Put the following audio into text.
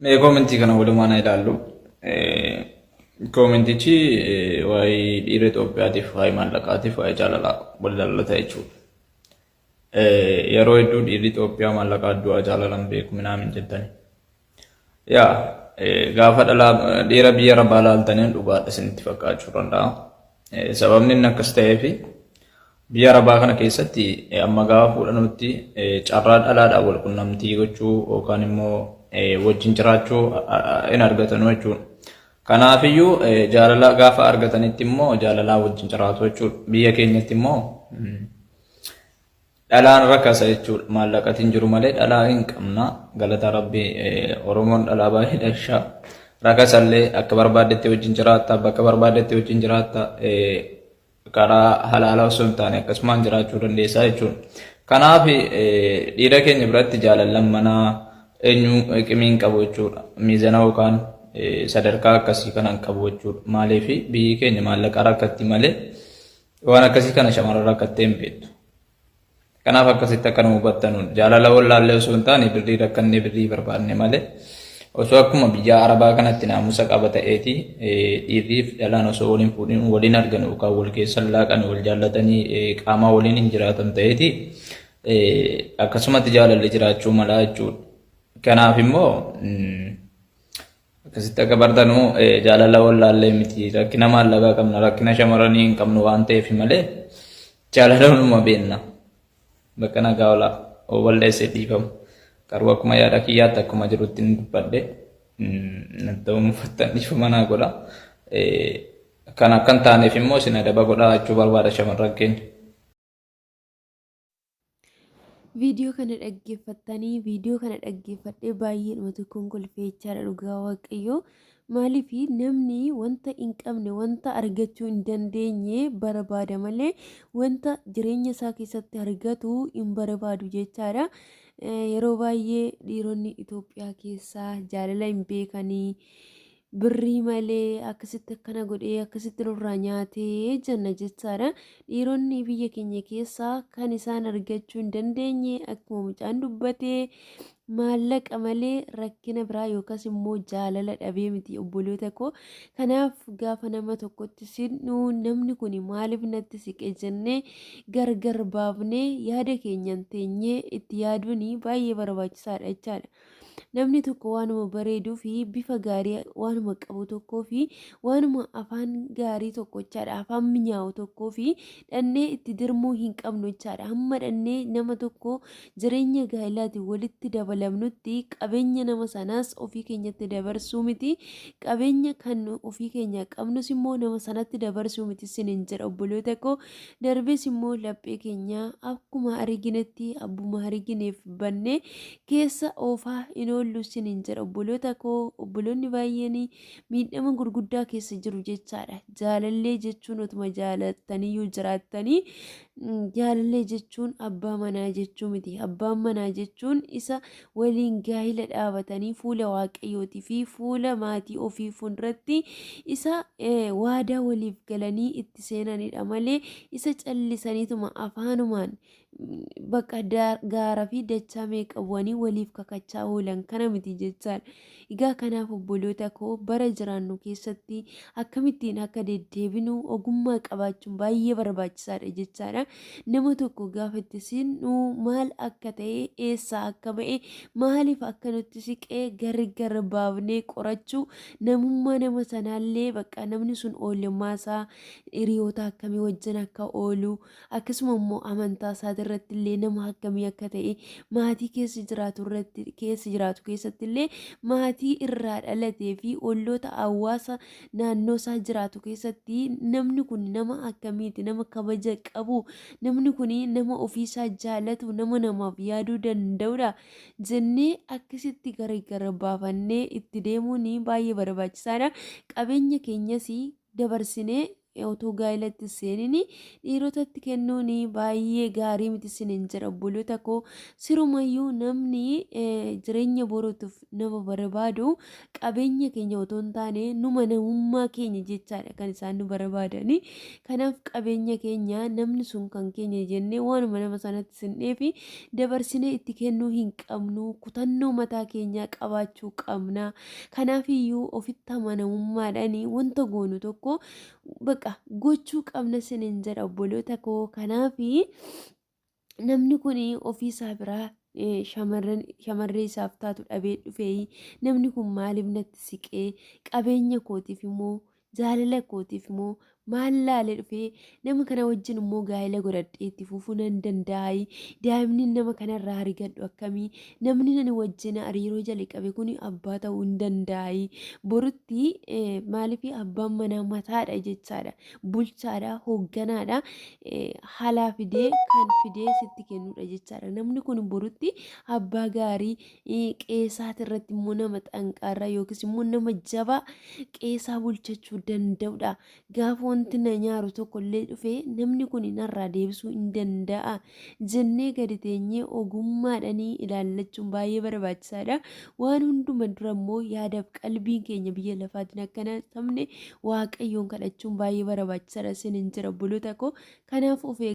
Mee koomentii kana walumaan haa ilaallu. Koomentichi waa'ee dhiira Itoophiyaatiif, waa'ee maallaqaatiif, waa'ee jaalalaa wal ilaallata jechuudha. Yeroo hedduu dhiirri Itoophiyaa maallaqa du'a jaalalan beeku minaamin jettani. Yaa gaafa dhalaa dhiira biyya rabaa laaltaniin dhugaadha isinitti fakkaachuu danda'a. Sababni inni akkas ta'eef biyya rabaa kana keessatti amma gaafa fuudhanutti carraa dhalaadhaan wal qunnamtii gochuu yookaan immoo wajjin jiraachuu hin argatanu jechuudha. Kanaafiyyuu jaalala gaafa argatanitti immoo jaalalaa wajjin jiraatu jechuudha. Biyya keenyatti immoo Dhalaan rakasa jechuudha. Maallaqati hin jiru malee dhalaa hin qabna. Galata Rabbii Oromoon dhalaa baay'ee dhasha. Rakasallee akka barbaaddetti wajjin jiraatta, bakka barbaaddetti wajjin jiraatta, karaa halaalaa osoo hin taane akkasumaan jiraachuu dandeessaa jechuudha. Kanaaf dhiira keenya biratti jaalallan manaa eenyu qimii hin qabu jechuudha. Miizana yookaan sadarkaa akkasii kana hin qabu jechuudha. Maaliif biyyi keenya maallaqa rakkatti malee Waan akkasii kana shamarran rakkattee hin beektu. Kanaaf akkasitti akka nu hubattanuun jaalala wallaallee osoo hin taane birrii rakkannee birrii barbaadne malee osoo akkuma biyya arabaa kanatti naamusa qaba ta'eeti dhiirriif dhalaan osoo waliin fuudhin waliin argan yookaan wal keessan laaqan wal jaallatanii qaamaa waliin hin jiraatan ta'eeti akkasumatti jaalalli jiraachuu malaa jechuudha. Kanaaf immoo Akkasitti akka bartanu jaalala wallaallee miti rakkina maallaqaa qabna rakkina shamaranii hin qabnu waan ta'eef malee jaalala hunuma beenna bakka nagaa olaa walleessee dhiifamu garuu akkuma yaada kiyyaatti akkuma jirutti hin dubbadhe ta'uu mufattan dhiifama naa godha kan akkan taaneef immoo isin adaba godhaa jechuu barbaada shamarran keenya. Viidiyoo kana dhaggeeffattanii viidiyoo kana dhaggeeffadhee baay'ee dhuma tokkoon kolfeechaadha dhugaa waaqayyoo maaliif namni wanta hin qabne wanta argachuu hin dandeenye barbaada malee wanta jireenya isaa keessatti argatu hin barbaadu jechaadha. Yeroo baay'ee dhiironni Itoophiyaa keessaa jaalala hin beekanii birrii malee akkasitti akkana godhee akkasitti nurraa nyaatee jenna jechaadha. Dhiironni biyya keenya keessaa kan isaan argachuu hin dandeenye akkuma mucaan dubbate maallaqa malee rakkina biraa yookaas immoo jaalala dhabee miti obboloota koo. Kanaaf gaafa nama tokkotti sidhu namni kun maaliif natti siqe jennee gargar baafnee yaada keenyaan teenyee itti yaaduun baay'ee barbaachisaadha jechaadha. Namni tokko waanuma bareeduu fi bifa gaarii waanuma qabu tokkoo fi waanuma afaan gaarii tokko jechaadha. Afaan minyaawu tokkoo fi dhannee itti dirmuu hin qabnu jechaadha. Hamma dhannee nama tokko jireenya gaa'ilaatiin walitti dabalamnutti qabeenya nama sanaas ofii keenyatti dabarsuu miti. Qabeenya kan ofii keenya qabnus immoo nama sanatti dabarsuu miti sinin jedha obboloota koo. Darbees immoo laphee keenya akkuma ariginetti abbuma arigineef bannee keessa oofaa hin oollu isiniin jedha obboloota koo obboloonni baay'een miidhama gurguddaa keessa jiru jechaadha jaalallee jechuun otuma jaalattanii yoo jiraattanii jaalallee jechuun abbaa manaa jechuu miti abbaan manaa jechuun isa waliin gaa'ila dhaabatanii fuula waaqayyootii fi fuula maatii ofii fuulduratti isa waadaa waliif galanii itti seenanidha malee isa callisaniituma afaanumaan Bakka gaara fi dachaa meeqa bu'anii waliif kakachaa oolan kana miti jechaadha. Egaa kanaaf obboloota koo bara jiraannu keessatti akkamittiin akka deddeebinu ogummaa qabaachuun baay'ee barbaachisaadha jechaadha. Nama tokko gaafa itti siqnu maal akka ta'e eessaa akka ba'e maaliif akka nutti siqe gargar baafnee qorachuu namummaa nama sanaallee bakka namni sun oolmaa isaa hiriyoota akkamii wajjin akka oolu akkasuma immoo amantaa isaati irratti illee nama akkamii akka ta'e maatii keessa jiraatu irratti keessa jiraatu keessatti illee maatii irraa dhalatee fi olloota hawaasa naannoo isaa jiraatu keessatti namni kun nama akkamiiti nama kabaja qabu namni kun nama ofiisaa jaalatu nama namaaf yaaduu danda'udha jennee akkasitti gargar baafannee itti deemuun baay'ee barbaachisaadha qabeenya keenyas dabarsinee Otoo gaa'ila itti hin seenin dhiirotatti kennuun baay'ee gaarii miti isiniin jedha obboloota koo. Sirumayyuu namni jireenya boruutiif nama barbaadu qabeenya keenya otoo hin taane numa namummaa keenya jechaadha kan isaan nu barbaadani. Kanaaf qabeenya keenya namni sun kan keenya jennee waanuma nama sanatti sinneefi dabarsinee itti kennuu hin qabnu. Kutannoo mataa keenyaa qabaachuu qabna. Kanaafiyyuu ofitti amanamummaadhaan wanta goonu tokko baqa gochuu qabna sinin jedha obboloota koo kanaaf namni kun ofii isaa biraa shamarree isaaf taatu dhabee dhufee namni kun maaliif natti siqee qabeenya kootiif immoo Jaalala kootiif moo maal laale dhufee nama kana wajjin immoo gaa'ela godhadhee itti fufuu nan danda'aayi daa'imni nama kanarraa argadhu akkamii namni nani wajjin hariiroo jalqabe kun abbaa ta'uu hin danda'aayi borutti eh, maaliif abbaan manaa mataadha jechaadha bulchaadha hoogganaadha eh, haalaa fidee kan fidee sitti kennudha jechaadha namni kun borutti abbaa gaarii qeesaati irratti immoo nama xanqaarraa yookiis immoo nama jabaa qeesaa bulchachuu danda'udha. Gaafa wanti na nyaaru tokko illee dhufe namni kun narraa deebisuu hin danda'a jennee gadi teenyee ogummaadhanii ilaallachuun baay'ee barbaachisaadha. Waan hunduma dura immoo yaadaaf qalbiin keenya biyya lafaatiin akka hin hatamne waaqayyoon kadhachuun baay'ee barbaachisaadha sinin jira obboloota koo kanaaf of